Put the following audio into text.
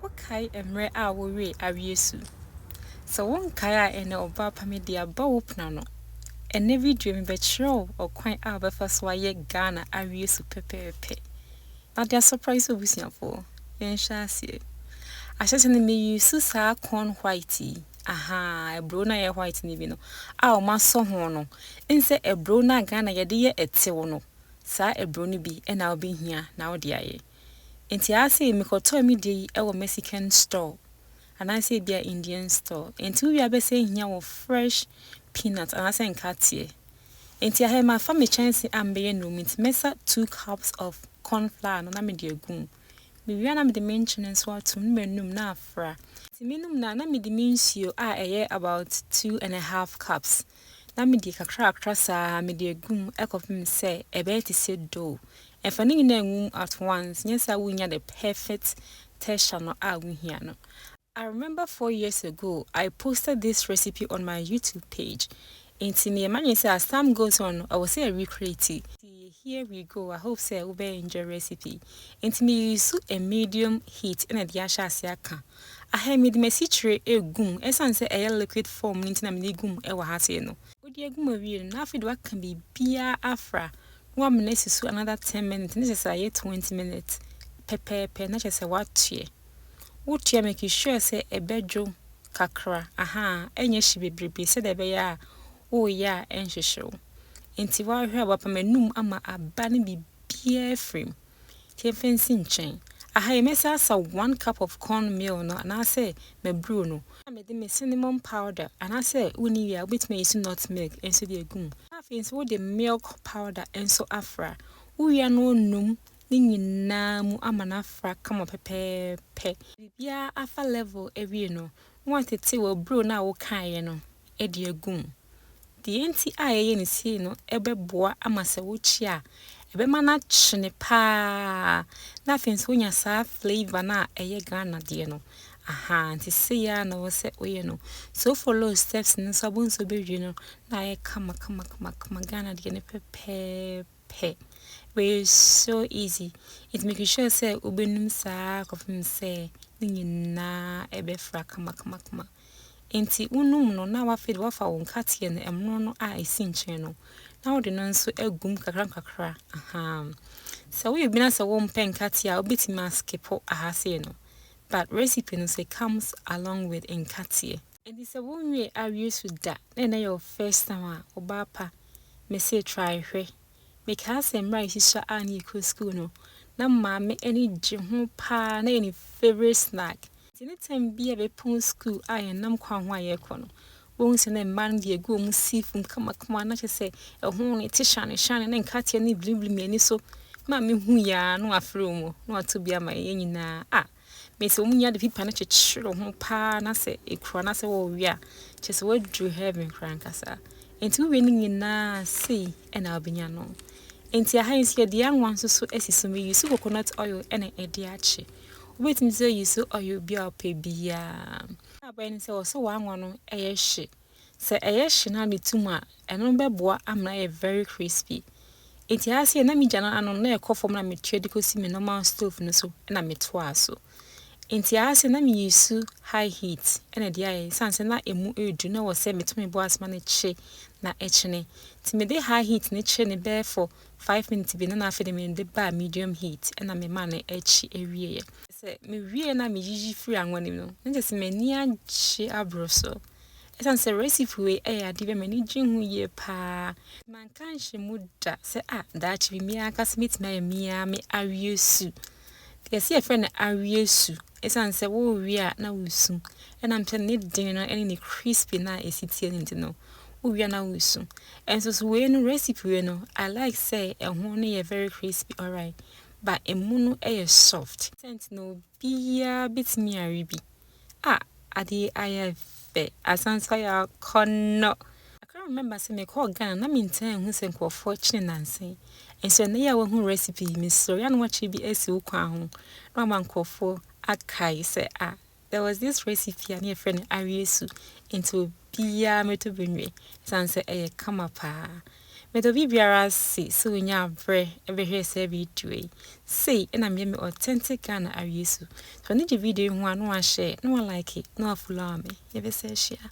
Wokae mmerɛ a wowee aweɛ su? Sɛ wonkae a ɛnɛ Ɔbaapa mede aba wo pono ano. Ɛnɛ video yi mebɛkyerɛ wo ɔkwan a wobɛfa so ayɛ Ghana aweɛ su pɛpɛɛpɛ. Na de asɔpra nso abusuafoɔ. Yɛnhyɛ aseɛ. Ahyɛsɛ no me use saa corn white yi, ahaa aburo no a ɛyɛ white no bi no a wɔasɔ ho no. Nsɛ aburo no a Ghana yɛde yɛ ɛtew no, saa aburo no bi na wobɛhia na wode ayɛ. Enti aasei mekɔtɔɔ me deɛ yi wɔ Mexican store anaasɛ ebia Indian store. Enti wo wie abɛsɛ ahia wɔ fresh peanut anaasɛ nkateɛ. Enti ahɛ mafa me kyɛnse a mebɛyɛ nnuro mu nti mɛsa two cups of corn flour no na mede agu mu. Me wie a na mede me nkyene nso ato mu na manum na afra. Enti menum no a na mede me nsuo a ɛyɛ about two and a half cups na mede kakrakakra saa ara mede agu mu kɔpem sɛ ɛbɛyɛ te sɛ dough. Ɛfa ne nyinaa ngu mu at once, nyɛ saa a wonnya the perfect texture no a wohia no. I remember four years ago I posted this recipe on my YouTube page, enti meyɛ m'adwene sɛ as time goes on no, ɛwɔ sɛ yɛ recreate. Nti here we go, I hope sɛ wobɛ enjoy recipe yi. Enti me use a medium heat na ɛde ahyɛ aseɛ aka. Ahe mede m'asikyire regu mu, ɛsiane sɛ ɛyɛ liquid form no nti na mede regu mu wɔ ha sei no. Wode agu mu awie no, na afei de woaka biribiara afra na woama no asi so another ten minutes na kyerɛ sɛ ayɛ twenty minutes pɛpɛɛpɛ na kyerɛ sɛ woatoɛ. Wotoɛ a make sure sɛ ɛbɛdwo kakra, ahaa, ɛnyɛ hye bebrebe sɛdeɛ ɛbɛyɛ a woreyɛ a ɛnhyehye wo. Nti woahwɛ a wapam anum ama aba no biribiara afiri mu. Nti yɛmfa nsi nkyɛn. Aha yi mɛsan asa one cup of corn meal no anaasɛ mabrew no. Na mede me cinnamon powder anaasɛ wonni wie a wobɛtumi ayi so nut milk nso de agu mu. Na afei nso wode milk powder nso afra. Wowie a na wonum ne nyinaa mu ama no afra kama pɛpɛɛpɛ. Biribiara afa level awie no, na woatete w'abrew no a wokaeɛ no. de agu mu. Deɛ nti a yɛyɛ no sei no bɛboa ama sɛ wokyi a, ɛbɛma no akyene paa na afei nso wonya saa flavour no a ɛyɛ Ghana deɛ no. Aha, nti sei ara na ɛwɔ sɛ woyɛ no. So follow steps no nso abɔ nso bɛwie no na ayɛ kama kama kama kama Ghana deɛ no pɛpɛɛpɛ. pɛ. Wei so easy nti make sure sɛ wobɛnum saa kɔpem sɛ ne nyinaa ɛbɛfra kamakamakama. Nti wonum no na wafei de wafa wo nkateɛ no ɛmono no a ɛsi nkyɛn no na wode no nso agum kakra nkakra ahaa. Sɛ woyɛ obi na sɛ wompɛ nkateɛ a wobɛtumi askipo ahasee no but recipe no so it comes along with nkateɛ. Enti sɛ wo nwie awie su da na ɛnɛ yɛ wo first time a, ɔbaa pa, mese try hwɛ. Mekaa sɛ mmerɛ a yɛhyihyia a na yɛkɔ school no, na maame ani gye ho paa, na ɛyɛ ne favourite snack. Nti any time biara a bɛpɔn school a yɛnam kwan ho a yɛrekɔ no, wobɛhu sɛ na mmaa no de agu wɔn seafoam kamakama, na kyerɛ sɛ ɛho no ɛte hyane hyane, na nkateɛ no reblimblim yɛn ani so. Maame hui ara na wafrɛ wɔn, na wato bi ama yɛn nyinaa. Ah! Me sɛ wɔn nyinaa de pipa no kyekyere ho paa na sɛ ekura na sɛ wɔwe a kyerɛ sɛ wɔaduru heaven koraa ankasa nti wowie ne nyinaa sei ɛna wobɛnya no nti aha nso yɛde anwa nso so asi so me use coconut oil ɛna ɛde akye wobɛtumi sɛ use oil bi a ɔpɛ biara abɛn sɛ wɔ sɛ wɔanwa no ɛyɛ hye Sɛ ɛyɛ hye na metu mu a, ɛno bɛboa ama ayɛ very crispy. Enti ayɛ sɛ na me gya no ano no na ɛkɔ fam na metua de kɔsi me normal stove no so na metoaa so. Enti ayɛ sɛ na me use high heat na ɛde ayɛ ɛsiane sɛ na ɛmu reduru na ɛwɔ sɛ meto me bo ase ma no kye na ɛkyene. Nti mede high heat no kyee no bɛyɛ for five minutes bi na na afei de mede baa medium heat na memaa no kye wieeɛ. Sɛ mewie na meyiyi firi anwa no mu no, na kyerɛ sɛ m'ani agye aboro so. Ɛsiane sɛ recipe wei yɛ adeɛ bi a m'ani gye ho yie paa, manka anhyɛ mu da sɛ a ah, daakye bi me ankasa mɛtumi ayɛ me ara me awie su. Yɛsi yɛfrɛ no awie su ɛsiane sɛ wowie a na wosu. Ɛnam sɛ ne den no ne ne crispy na ɛsi tie no nti no, wowie a na wosu. Ɛnso so wei no recipe wei no, I like sɛ ɛho no yɛ very crispy alright, but ɛmu no yɛ soft. Sɛnti na obiara bɛtumi awe bi. Ah ade yi ayɛ fɛ asan sɛ yɛakɔ no. I can remember sɛ mekɔɔ Ghana na mentaa nhu sɛ nkurɔfoɔ kyene nnansa yi. Nso ɛnnɛ yi a woahu recipe yi, mesrɛ wo yɛ a na woakyerɛ bi asi wo kwan ho na wama nkurɔfoɔ akae sɛ ah there was this recipe a na yɛfrɛ no aweasu nti obiara mmɛtɔ bi nwe ɛsiane sɛ ɛyɛ kama paa. Meda obi biara ase sɛ onyaa berɛ bɛhwɛɛ saa video yi. Sei na meyɛ me authentic Ghana awie su. Sɛ w'ani gye video yi ho a na wahyɛɛ, na wa like, na wa follower me. Yɛbɛsan hyia.